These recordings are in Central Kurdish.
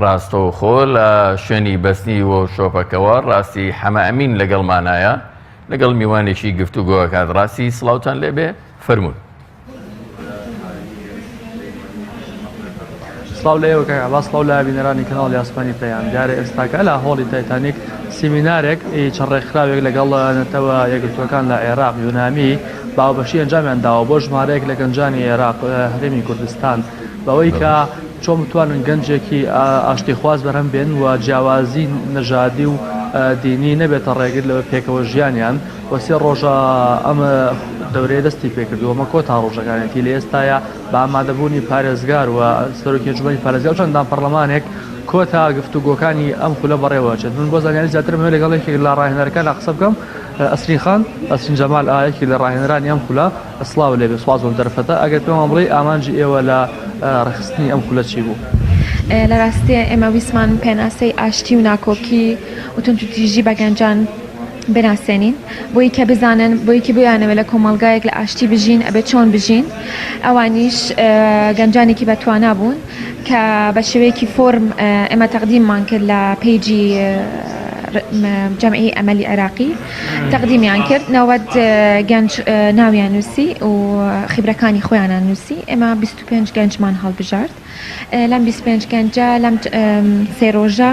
ڕاستەوخۆ لە شوێنی بەستنی وۆرکشۆپەکەوە ڕاستی حەمە ئەمین لەگەڵمانایە لەگەڵ میوانێکی گفتوگۆکات ڕاستی سلااوان لێبێ فەرمونون. سلااو لەوەکە باس لااو لە بینەرانی کەناڵ یاسپانی پەیام دیارە ئێستاکە لە هۆڵی تایتانیک سیمینارێک چڕ ڕێکخراوێک لەگەڵ نەتەوە یەکگرتوەکان لە عێراق یۆنامی باوبەشی ئەنجامیان داوە بۆ ژمارەیەک لە گەنجانی عێراق هەرێمی کوردستان بەوەی کە چۆن بتوانن گەنجێکی ئاشتیخواز بەرهەم بێنن و جیاوازی نەژادی و دینی نەبێتە ڕێگر لە پێکەوە ژیانیان و سێ ڕۆژە ئەم دەورەیە دەستی پێکردو ئەمە کۆتا ڕۆژەکانێتی لە ئێستایا بە ئامادەبوونی پارێزگار و سەرۆکی ئەنجومەنی پارێزگا و چەندان پەرلەمانێک کۆتا گفتوگۆکانی ئەم خولە بەڕێوەچێت من بۆ زانیاری زیاترم هەوێ لەگەڵ یەکێک لە ڕاهێنەرەکانە قسە بکەم ئەسرین خان ئەسرین جەمال ئا یەکێک لە ڕاهێنەرانی ئەم خولە سڵاو لێبێ سوپاس بۆم دەرفەتە ئەگەر پێمان بڵێی ئامانجی ئێوە لە ڕێکخستنی ئەم خولە چی بوو؟ لە ڕاستیە ئێمە ویستمان پێناسەی ئاشتی و ناکۆکی و توندوتیژی بە گەنجان بناسێنین بۆی کە بزانن بۆی کە بویانەوە لە کۆمەڵگایەک لە ئاشتی بژین ئەبێ چۆن بژین ئەوانیش گەنجانێکی بەتوانا بوون کە بە شێوەیەکی فۆرم ئێمە تەقدیممان کرد لە پێیجی جەمعی ئەمەلی عێراقی تەقدیمیان کرد نەوەد گەنج ناویان نووسی و خیبرەکانی خۆیانان نووسی ئێمە 25 گەنجمان هەڵبژارد لەم 25 گەنجە لەم سێرۆژە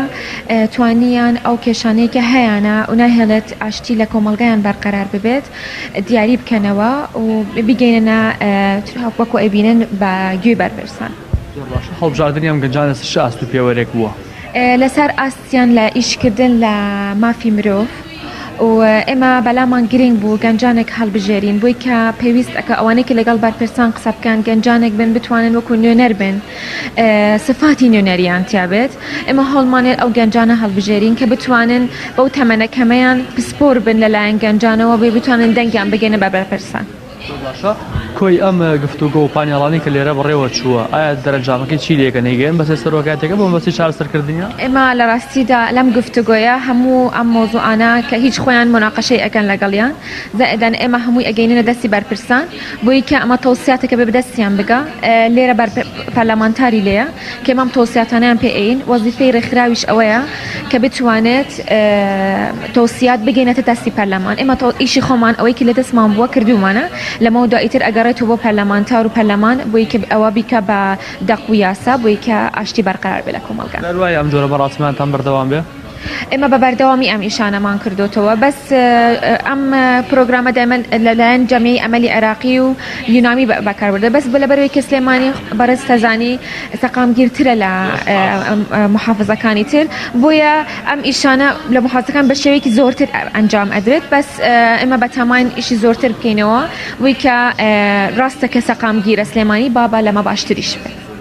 توانیان ئەو کێشانەیەکە هەیەە و ناهێڵێت ئاشتی لە کۆمەلگایان بەرقەرار ببێت دیاری بکەنەوە و بگەینە وەکو ئەبینن بە گوێ بەرپرسان هەڵبژاردننی ئەم گەنجانە شاست و پێوەرێک بووە لەسەر ئاست سیان لە ئیشکردن لە مافی مرۆڤ و ئێمە بەلامان گرنگ بوو گەنجانێک هەڵبژێرین بۆی کە پێویست ئەکە ئەوانەی کە لەگەڵ بەرپرسان قسە بکەن گەنجانێک بن بتوانن وەکو نوێنەر بن سفاتی نوێنەریان تیابێت ئێمە هەوڵمانێت ئەو گەنجانە هەڵبژێرین کە بتوانن بەو تەمەنە کەمەیان پسپۆر بن لەلایەن گەنجانەوە بێ بتوانن دەنگیان بگەنە بە بەرپرسان. زۆر باشە کۆی ئەم گفتوگۆ و پانێڵانی کە لێرە بەڕێوە چووە ئایا دەرەنجامەکەی چی لێکە نەیگەن بەسێ سەرۆکاتەکە بۆ مەبەستی چارەسەرکردنیە؟ ئێمە لە ڕاستیدا لەم گفتوگۆیە هەموو ئەم مەوزوعانە کە هیچ خۆیان موناقەشەی ئەکەن لەگەڵیان زائدن ئێمە هەمووی ئەگەیننە دەستی بەرپرسان بۆیکە ئەمە تەوسیاتەکە بێ بەدەستیان بگا لێرە بەر پەرلەمانتاری لێیە کە ئەم تەوسیاتانەیان پێ ئەیین، وەزیفەی رێکخراویش ئەوەیە کە بتوانێت تەوسیات بگەینێتە دەستی پەرلەمان، ئێمە ئیشی خۆمان ئەوەی کە لە دەستمان بووە کردوومانە، لەمەو دوا ئیتر ئەگەڕێتەوە بۆ پەرلەمانتار و پەرلەمان بۆی کە ئەوە بیکا بە دەق و یاسا بۆی کە ئاشتی بەرقەرار بێت لە کۆمەڵگا. دەروایە ئەم جۆرە بەڕاستیمانتان بەردەوام بێ. ئێمە بە بەردەوامی ئەم ئیشانەمان کردۆتەوە بەس ئەم پرۆگرامە دایمەن لەلایەن جەمعی ئەمەلی عێراقی و یونامی بەکاربردە بەس بە لەبەرەوەی کە سلێمانی بەڕێز تەزانی سەقامگیرترە لە محافزەکانی تر بۆیە ئەم ئیشانە لە محافزەکان بە شێوەیەکی زۆرتر ئەنجام ئەدرێت بەس ئێمە بەتاماین ئیشی زۆرتر بکەینەوە وی کە ڕاستە کە سەقامگیرە سلێمانی بابا لەمە باشتریش بێت.